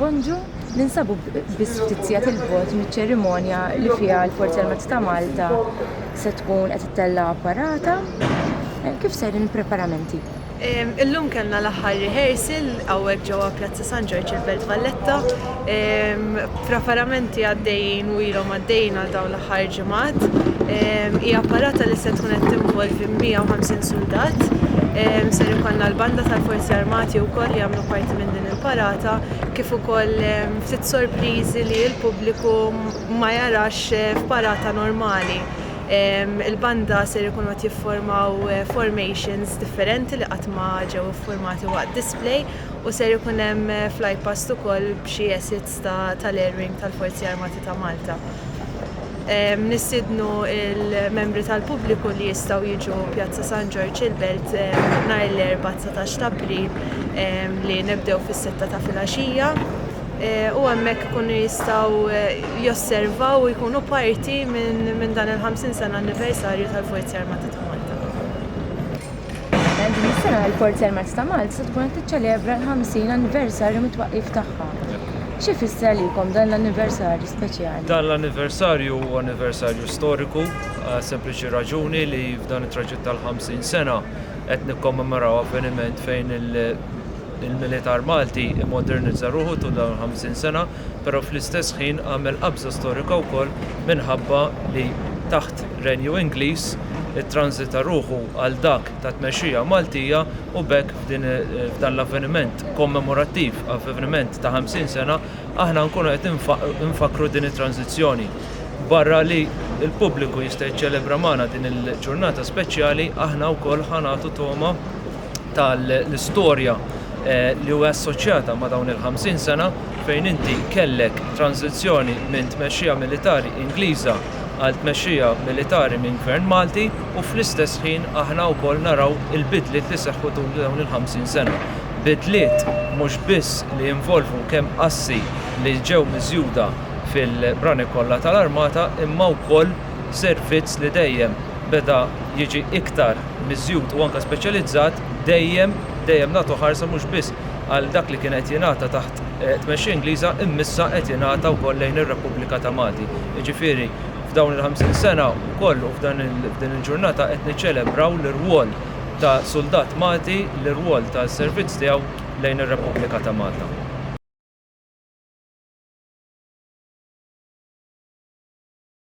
Bonġu, ninsabu biss ftit sigħat il-bot miċ-ċerimonja li fiha l-Forzi Armati ta' Malta se tkun qed ittella' parata. Eh, kif serin il-preparamenti? Illum kellna l-aħħar rehearsal hawnhekk ġewwa Pjazza San Ġorġ il-Belt Valletta. Preparamenti għaddejjin u ilhom għaddejjin għal dawn l-aħħar ġimgħat. Hija parata li se tkun qed tinvolvi 150 suldat. Ser ikollna l-banda tal-Forzi Armati wkoll li jagħmlu parti minn din il-parata kif ukoll ftit sorpriżi li l-pubbliku ma jarax f'parata normali. Il-banda ser ikunu qed jifformaw formations differenti li qatt ma ġew iffurmati waqt display u ser ikun hemm flypast ukoll b'xi assets ta' tal-Air Wing tal-Forzi Armati ta' Malta. Nistiednu l-membri tal-pubbliku li jistgħu jiġu Pjazza San Ġorġ il-Belt nhar l-Erbgħa 19 t'April li nibdew fis-sitta ta' filgħaxija u hemmhekk ikunu jistgħu josservaw u jkunu parti minn dan il-50 sena anniversarju tal-Forzi Armati ta' Malta. Għaldaqstant, din is-sena l-Forzi Armati ta' Malta se tkun qed tiċċelebra l-50 anniversarju mit-twaqqif tagħha. X'ifisser għalikom dan l-anniversarju speċjali? Dan l-anniversarju huwa anniversarju storiku għas-sempliċi raġuni li f'dan it-traġitt tal-50 sena qed nikkommemoraw avveniment fejn il-Militar Malti immodernizza ruħu tul dawn il-50 sena. però fl-istess ħin għamel qabża storika wkoll minħabba li taħt Renju Ingliż ittranżita ruħu għal dak ta' tmexxija Maltija u b'hekk f'dan l-avveniment kommemorattiv, avveniment ta' 50 sena, aħna nkunu qed infakkru din it-tranżizzjoni. Barra li l-pubbliku jista' jiċċelebra magħna din il-ġurnata speċjali, aħna wkoll ħa nagħtu togħma, tal-istorja eh, li huwa assoċjata ma' dawn il-50 sena fejn inti kellek tranzizzjoni minn tmexxija militari Ingliża għal tmexxija militari minn gvern Malti u fl-istess ħin aħna wkoll naraw il-bidliet li seħħu tul dawn il-50 sena. Bidliet mhux biss li involvu kemm assi li ġew miżjuda fil-brani kollha tal-armata imma wkoll servizz li dejjem beda jiġi iktar miżjud u anke speċjalizzat, dejjem, dejjem nagħtu ħarsa mhux biss għal dak li kien qed jingħata taħt tmexxija Ingliża imma issa qed jingħata wkoll lejn ir-Repubblika ta' Malti. Jiġifieri f'dawn il-50 sena wkoll u f'dan f'din il-ġurnata qed niċċelebraw l-irwol ta' suldat Malti, l-irwol tas-servizz tiegħu lejn ir-Repubblika ta' Malta.